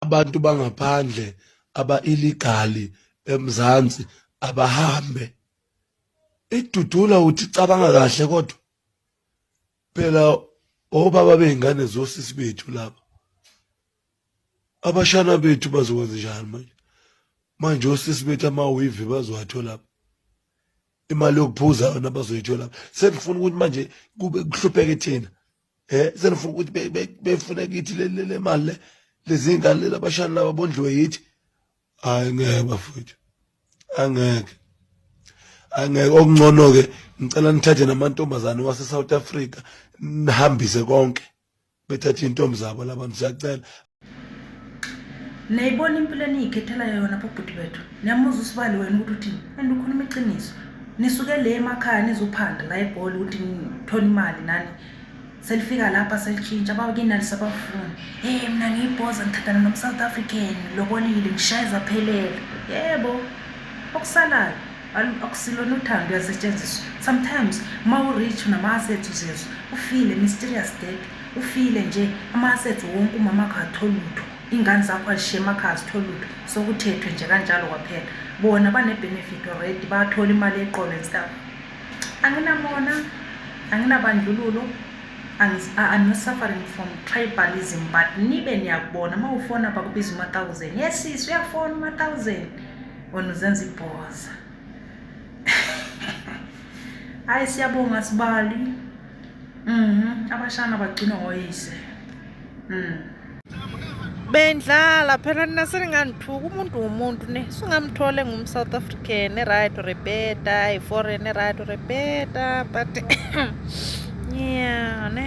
abantu bangaphandle aba-iligali eMzansi abahambe idudula uthi cabanga kahle kodwa phela obaba bey'ngane zosisi bethu laba abashana bethu bazokwenza njani manje manje osisi bethu amawivi bazowatholapha imali yokuphuza yona bazoyitholapha sengifuna ukuthi manje kube kuhlupheke thina eh senifuna ukuthi befune kithi le mali le lezi ngane labashana laba bondliwe yithi hayi ngeke bafowethu angeke angeke okungcono ke ngicela nithathe namantombazane wase South Africa nihambise konke bethathe intombi zabo labantu siyacela niyayibona impilo eniyikhethelayo yona bobhuti bethu niyamuza usibali wena ukuthi uthini and ukhuluma iqiniso nisuke le emakhaya nizophanda la egoli ukuthi nithole imali nani selifika lapha selitshintsha bakinani sabafuni hey mna ngiyibhoza ngithathana nomsouth african lobolile ngishayeza phelele yebo okusalayo akusilona uthando uyasetshenziswa sometimes uma u-rich unama-assets uzezwa ufile mysterious death Ufile nje ama assets wonke umama wakho aktholi lutho ingane zakho azishiye emakhaya azitholi lutho sokuthethwe nje kanjalo kwaphela bona bane benefit already bathola imali yeqolo and stuff anginamona anginabandlululo I'm not suffering from tribalism but nibe niyakubona uma ufona bakubiza uma-thousand yes sis uyafona uma-thousand wena uzenza ibhoza hayi siyabonga sibali Mhm, abashana bagcinwa ngoyise. Mhm. Bendlala phela nina seninganithuka umuntu wumuntu ne singamthole ngum South African right or better i foreign right or better but yeah ne